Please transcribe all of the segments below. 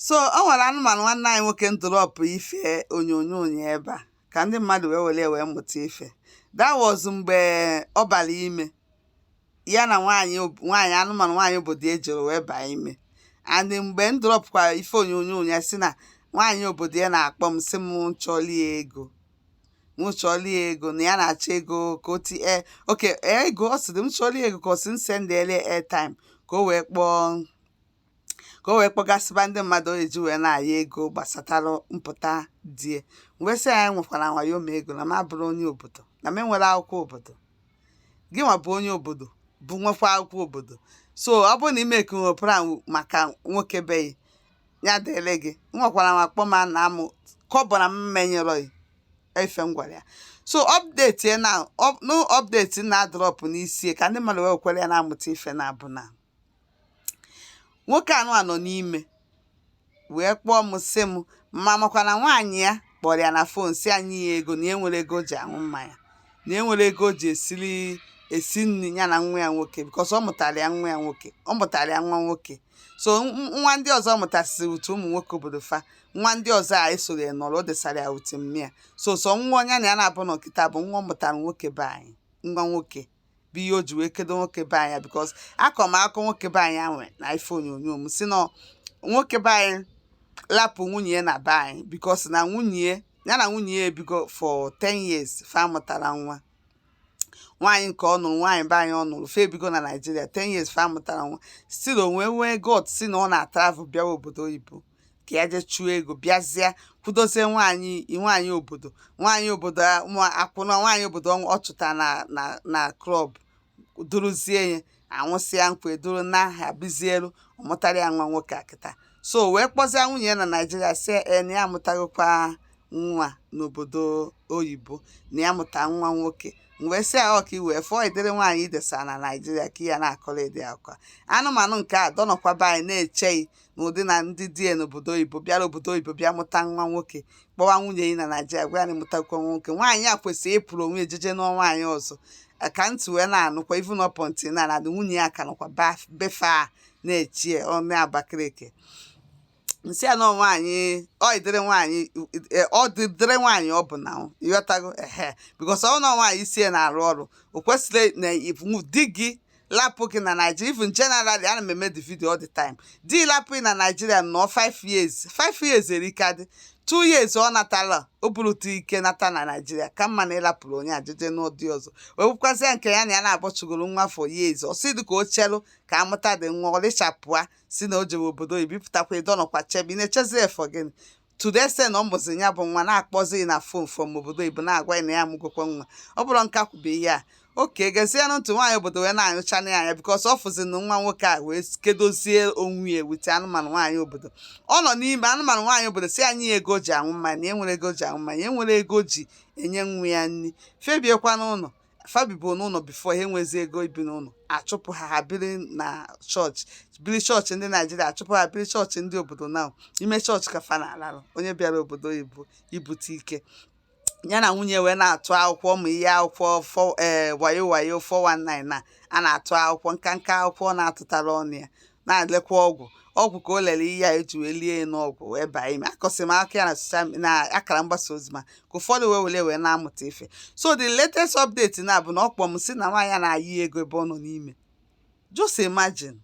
so ọ nwere anụmanụ nwanne anyị nwoke m drọpụ ife onyonyo ya ebe a ka ndị mmadụ wee were wee mụta ife that was mgbe ọ bara ime ya na nwaanyị nwaanyị anụmanụ nwaanyị obodo e jere wee baa ime and mgbe m drọpụkwa ife onyonyo ya sị na nwaanyị obodo a na-akpọ m sị m chọlie ego m chọlie ego na ya na-achọ ego ka o ti e, oke ego ọ sị m chọlie ego ka ọ sị m sendele airtime ka o wee kpọọ ka o wee kpọgasịba ndị mmadụ o ji wee na-ayọ ego gbasara mpụta di e wee sị ya ya nwekwara wayo ma ego na m abụrọ onye obodo na m enwerọ akwụkwọ obodo gị nwa bụ onye obodo bụ nwekwa akwụkwọ obodo so ọ bụrụ na ime ekenwe plan maka nwoke be gị ya dịrị gị m nwekwara m akpọ ma na amụ kọbọ na m menyerọ gị ife m gwara ya so update ya na up- no update na-adrop n'isi ka ndị mmadụ wee were ya na-amụta ife na abụ na nwoke anụ a nọ n'ime wee kpọọ m sị m ma m makwa na nwaanyị a kpọrọ ya na fon sị ya nye ya ego na enwerọ ego o ji aṅụ mmanya na enwerọ ego o ji esiri esi nri ya na nwa ya nwoke because ọ mụtara ya nwa ya nwoke ọ mụtara ya nwa nwoke so nwa ndị ọzọ mụtasịrị utu ụmụ nwoke obodo fa nwa ndị ọzọ a esoghị nọrọ o desara ya utu mmịa so sọ nwa onye na ya na-abụ na kịta bụ nwa ọ mụtara nwoke be anyị nwa nwoke bụ ihe o ji wee kedo nwoke be anyị because akọ m akọ nwoke be anyị anwa n'ife onyonyo m sị na nwoke be anyị lapụ nwunye ya na be anyị because na nwunye ya na nwunye ya ebigo for 10 years fa amụtarọ nwa nwaanyị nke ọ nụrụ nwaanyị be anyị ọ nụrụ fa ebigo na Nigeria 10 years fa amụtarọ nwa still o wee nwee God si na ọ na-atravel bịawa obodo oyibo ka ya jee chụọ ego bịazie kwudozie nwaanyị nwaanyị obodo nwaanyị obodo akwụna nwaanyị obodo ọ chụta na na na club duruzie ya anwụsịa nkwa e duru naa ha bizielu ọ mụtara ya nwa nwoke kịta so wee kpọzie nwunye ya na Nigeria sị na ya amụtagokwa nwa n'obodo oyibo na ya mụta nwa nwoke wee sị ya ọ ka i wee fụọ ụdịrị nwaanyị i desa na Nigeria ka ya na-akọrọ ụdị okwu a anụmanụ nke a dọnọkwa be anyị na-eche gị na ụdị na ndị di ya n'obodo oyibo bịara obodo oyibo bịa mụta nwa nwoke kpọwa nwunye ya na Nigeria gwa ya na ya mụtakwa nwa nwoke nwaanyị a kwesịrị ịpụrụ onwe e jeje nụọ nwaanyị ọzọ Eh, ka ntị wee na-anụkwa even up until na na nwunye ya ka nọkwa baf- be fa na-eche ya ọnụ Abakaliki m sị ya na nwaanyị ụdịrị nwaanyị eh, ụdịrị nwaanyị ọ bụ na ọ, ị ghọtago ehe because ọ nọ nwaanyị isi ya na-arụ ọrụ o kwesịrị na iwu- di gị lapụ gị na Naịjirịa even generally ana m eme the video all the time di lapụ gị na Naịjirịa nọ 5 years 5 years erika dị 2 years ọ natala o burụta ike nata na Naịjirịa ka mma na ịlapụrụ onye a jeje nụọ di ọzọ wee bụkwazịa nke ya na ya na-agbọchụgoro nwa for years ọ sị dị ka o chelụ ka a mụtadị nwa ọlịchapụa si na o jere obodo oyibo ị pụtakwa ị dọnọkwa chebe ị na-echezi for gịnị to the extent na ọ mụzi ya bụ nwa na-akpọzi na fon from obodo oyibo na-agwa ya na ya amụgokwa nwa ọ bụrụ m ka kwube ihe a oke gezienụ ntụ nwaanyị obodo wee na-anyụcha na ya anya because ọ fụzi na nwa nwoke a wee kedozie onwe ya wute anụmanụ nwaanyị obodo ọ nọ n'ime anụmanụ nwaanyị obodo si ana ya ego o ji aṅụ mmanya na enwerọ ego o ji aṅụ mmanya enwerọ ego o ji enye nwa ya nri fa ebikwa n'ụlọ fa bibu n'ụlọ before ha enwezi ego ibi n'ụlọ achụpụ ha ha biri na chọọchị biri chọọchị ndị naijiria achụpụ ha biri chọọchị ndị obodo n'ime chọọchị ka fa na-alarụ onye bịara obodo oyibo ibute ike ya na nwunye wee na-atụ akwụkwọ ụmụ ihe akwụkwọ ee eh, wayo wayo 419 na a na-atụ akwụkwọ nkanka akwụkwọ na-atụtara ọnụ ya na-elekwa ọgwụ ọgwụ ka o lere ihe a eji wee lie ya n'ọgwụ wee baa ime akọsị m maka ya na social me- na akara mgbasa ozi maka ụfọdụ wee were wee na-amụta ife so the latest update now bụ na ọ kpọ m si na nwaanyị a na-ayọ ego ebe ọ nọ n'ime just imagine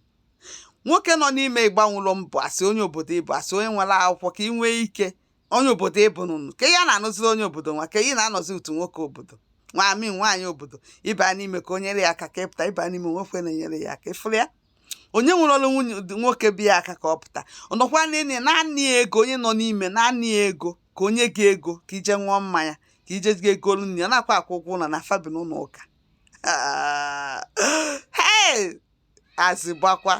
nwoke nọ n'ime ịgbanwụlụ mbọ asị onye obodo ịbụ asị onye nwere akwụkwọ ka ị nwee ike onye obodo ịbụ nụnụ ka ya na-anụziri onye obodo nwa ka ị na-anọzi utu nwoke obodo nwami nwaanyị obodo ịba n'ime ka o nyere ya aka ka ị pụta ịba n'ime nwoke na-enyere ya aka ị fụrụ ya onye nwere ọrụ nwunye nwoke bi ya aka ka ọ pụta ọ nọkwa n'ime na-ana ya ego onye nọ n'ime na-ana ya ego ka o nye gị ego ka i je ṅụọ mmanya ka ije gị ego nri ọ nakwa akwụ ụgwọ ụlọ na fa bi n'ụlọ ụka hei azị gbakwa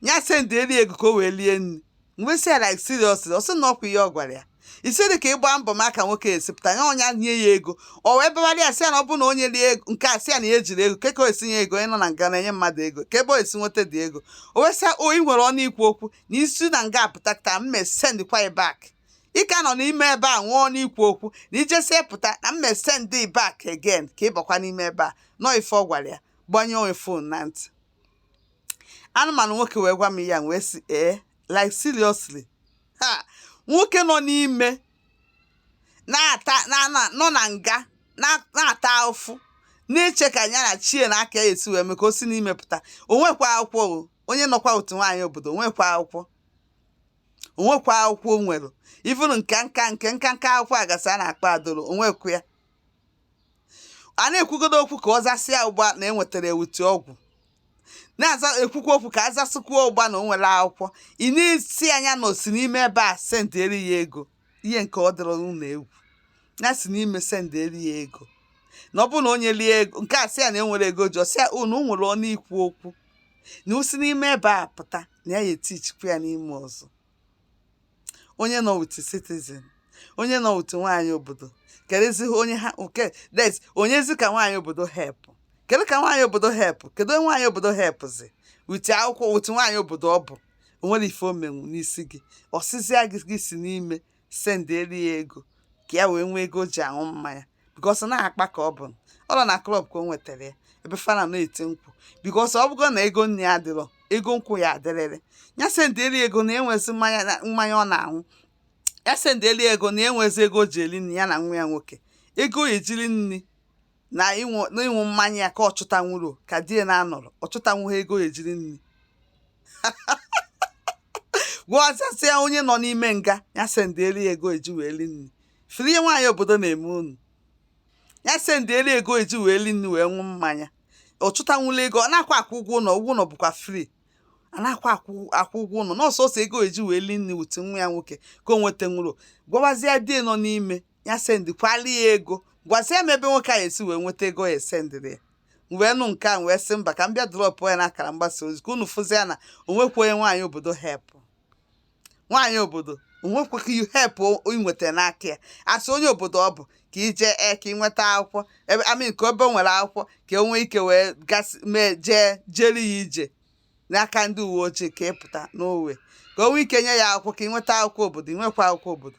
ya sendị eri ego ka o wee lie nri m wee sị ya like seriously ọ sị na ọkwa ihe ọ gwara ya isi dị ka ịgba mbọ maka nwoke esi pụta ya ọnya nye ya ego ọ wee bịawara ya sị ya na ọ bụrụ na o nyerọ ya ego nke a sị ya na ya ejirọ ego kee ka o esi nye ego onye nọ na nga na-enye mmadụ ego kee ebe o esi nweta dị ego o wee sị ya o ị nwere ọnụ ikwu okwu na i si na nga apụta ka m mee send kwa ya back ị ka nọ n'ime ebe a nwee ọnụ ikwu okwu na i jesie pụta na m mee send back again ka ị bakwa n'ime ebe a nọ ife ọ gwara ya gbanyụọ ya fon na ntị anụmanụ nwoke wee gwa m ya wee sị ee like seriously ha nwoke nọ n'ime na-ata nọ na nga na-ata afụfụ na-eche ka ya na chi ya na aka ya esi wee mee ka o si n'ime pụta o nwekwa akwụkwọ o onye nọkwa otu nwaanyị obodo o nwekwa akwụkwọ o nwekwa akwụkwọ o nwerọ even nke nka nke nka nka akwụkwọ a ga-asị a na-akpọ adoro o nwekwa ya a na-ekwugodo okwu ka ọ zasịa ụgba na enwetara ya with ọgwụ na-aza ekwukwa okwu ka azasịkwuo ụgba na o nwere akwụkwọ ị na-asị ya na o si n'ime ebe a sendịrị ya ego ihe nke ọ dịrọ ụlọ egwu ya si n'ime sendịrị ya ego na ọ bụrụ na onye lie ego nke a sị ya na enwere ego ji ọ sị ya unu nwere ọnụ ikwu okwu na i si n'ime ebe a pụta na ya ya-etichikwa ya n'ime ọzọ onye nọ with citizen onye nọ with nwaanyị obodo kedụzi onye ha nke des onyezi ka nwaanyị obodo help kedu ka nwaanyị obodo help kedu onye nwaanyị obodo helpzi with akwụkwọ with nwaanyị obodo ọ bụ o nwere ife o menwu n'isi gị ọ sịzịa gị gị si n'ime sendịrị ya ego ka ya wee nwee ego o ji aṅụ mmanya because na-akpa ka ọ bụ ọ nọ na club ka o nwetara ya ebe fana na-eti nkwụ because ọ bụgo na ego nni ya adịrọ ego nkwụ ya adịrịrị ya sendịrị ya ego na enwezi mmanya na- mmanya ọ na-aṅụ ya sendịrị ya ego na enwezi ego o ji eri nri ya na nwa ya nwoke ego e ji eri nri na ịṅụ mmanya ya ka ọ chụtanwuro ka di ya na-anọrọ ọ chụtanwu ha ego e ji eri nri gwazasịa onye nọ n'ime nga ya sendịeli ego eji wee li nri firi ihe nwaanyị obodo na-eme unu ya sendịeli ego eji wee li nri wee ṅụ mmanya ọ chụtanwula ego ọ na-akwa akwụ ụgwọ ụlọ ụgwọ ụlọ bụkwa free a na-akwa akwụ ụgwọ ụlọ na ọ sọsọ ego eji wee li nri with nwa ya nwoke ka o nwetanwurọ gwawazie di nọ n'ime ya sendikwara ya ego gwazie m ebe nwoke a esi wee nweta ego ya esendịrị ya wee nụ nke a wee sị mba ka m bịa drọpụ ya n'akara mgbasa ozi ka unu fụzie na o nwekwa onye nwaanyị obodo helpụ nwaanyị obodo o nwekwa ka you help i nweta n'aka ya a sị onye obodo ọ bụ ka ije e ka ị nweta akwụkwọ ebe I mean ka ebe nwere akwụkwọ ka enwee ike wee gasị mee jee jere ya ije n'aka ndị uwe ojii ka ị pụta n'owe ka o nwee ike nye ya akwụkwọ ka ị nweta akwụkwọ obodo ị nwekwa akwụkwọ obodo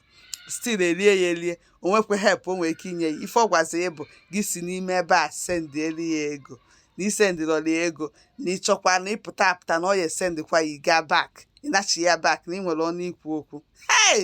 still elie ya elie o nwekwa help o nwere ike inye ya ife ọ gwazi ya bụ gị si n'ime ebe a sendịelu ya ego na i sendịrọla ya ego na ị chọkwa na ị pụta apụta na ọ ya-esendịkwa gị gaa back ị nachi ya back na ị nwere ọnụ ikwu okwu hey!